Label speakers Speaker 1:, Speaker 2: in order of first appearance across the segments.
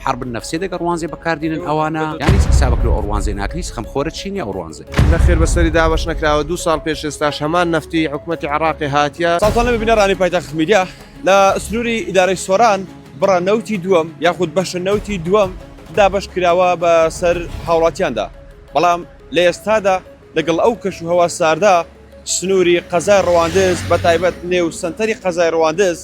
Speaker 1: حرب نفسێ دەگە ڕوانزێ بەکاردینن ئەوانە یان هیچ حسابک لۆ ئەوڕوانزێ ناکن هیچ خەم خۆرە چینی ئەوڕوانزێ. نەخێر بەسەری دابەش
Speaker 2: نەکراوە دوو ساڵ پێش ئێستاش هەمان نەفتی حکومەتی عێڕاقێ هاتیە. ساڵتان لەمێ بینەرانی پایتەخت
Speaker 3: میدیا. لە سنوری ئیدارەی سۆران بڕە نەوتی دووەم یاخود بەشە نەوتی دووەم دابەش کراوە بە سەر هاوڵاتیاندا بەڵام لە ئێستادا، لەگەڵ ئەو کەش و هەوا ساردە سنووری قەزای ڕواندز بە تایبەت نێو سەنتەری قەزای ڕواندز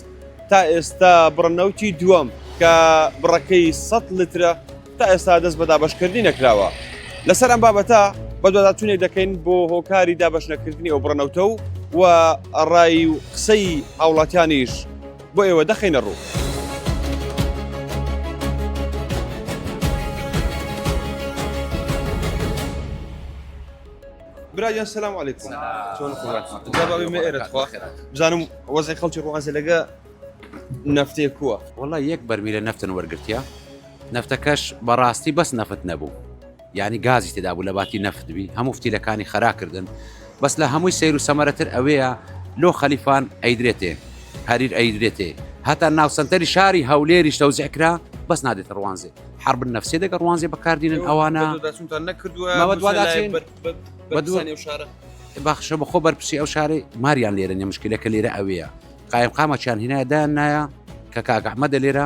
Speaker 3: تا ئێستا بڕە نەوتی دووەم کە بڕەکەی سەد لترە تا ئێستا دەست بە دابەشکردنی نەکراوە لەسەر ئەم بابەتە بەدواداچوونێک دەکەین بۆ هۆکاری دابەش نەکردنی ئەو بڕە نەوتە و و ڕای و قسەی هاوڵاتیانیش بۆ ئێوە دەخەینە ڕوو. براگیان سلام علیکم چۆن جوابی من ئێرە خوا بزانم وەزی خەڵکی ڕوانزە لەگە نفتێ کووە وڵا یەک بەرمیلە
Speaker 1: نفتن وەرگتیا نفتەکەش بەڕاستی بەس نەفت نەبوو یانی گازی تێدا بوو لەباتی نەفت بی هەموو فتیلەکانی خەرا کردن بەس لە هەمووی سەیر و سەمەرەتر ئەوەیە لۆ خەلیفان ئەیدرێتێ هەریر ئەیدرێتێ هەتا ناو سەنتەری شاری هەولێریش تەوزیع کرا بەس نادێتە ڕوانزێ حرب نەفسێ دەگە ڕوانزێ بەکاردینن ئەوانە بەخشە بەخۆ بەرپسی ئەو شارەی ماریان لێرە نێ مشکلەکە لێرە ئەوەیە قایم قامەچیان هینایدان نایە کە کاگەحمەدە لێرە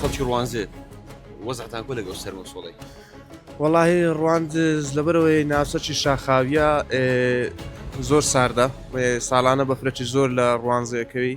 Speaker 3: خەڵکی ڕوانزێ وەزعتان کۆ لەگەڵ سەر وەسۆڵی وەڵی
Speaker 2: ڕواند لەبەرەوەی ناوچەکی شاخاویە زۆر ساردە ساڵانە بەفرەتی زۆر لە ڕوانزەکەوی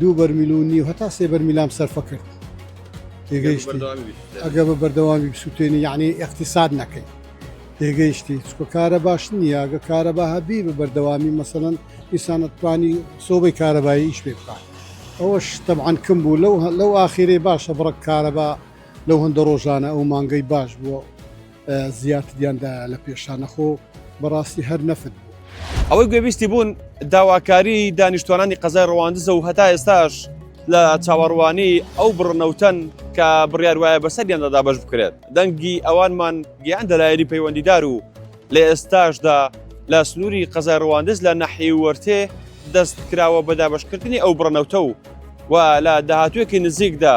Speaker 4: دوو بەرمیل و نیو هەتا سێ بەرمیلام سەرفە کرد تێگەیشتی ئەگە بە بەردەوامی بسووتێنی یعنی اقتصاد نەکەی تێگەیشتی چکە کارە باش نییە گە کارە بە هەبی بە بەردەوامی مەسەن ئیسانەتوانی سۆبەی کارەبایی ئیش پێ بکات ئەوەش تەبعاان کم بوو لەو لەو ئاخیرێ باشە بڕک کارەبا لەو هەندە ڕۆژانە ئەو مانگەی باش بووە زیاتریان دایە لە پێشانە خۆ بەڕاستی هەر نەفت بوو. ئەوەی گوێبیستی
Speaker 3: بوون داواکاری دانیشتوانانی قەزای ڕەواندزە و هەتا ئێستاش لە چاوەڕوانی ئەو بڕنەوتەن کە بڕیار وایە بەسەر گەندەدا بەش بکرێت دەنگی ئەوانمان گیان دەلایەنی پەیوەندیدار و لە ئێستاشدا لە سنووری قەزای ڕواندز لە نەحی وەرتێ دەست کراوە بە دابشکردنی ئەو بڕنەوتە و و لە داهاتوێکی نزیکدا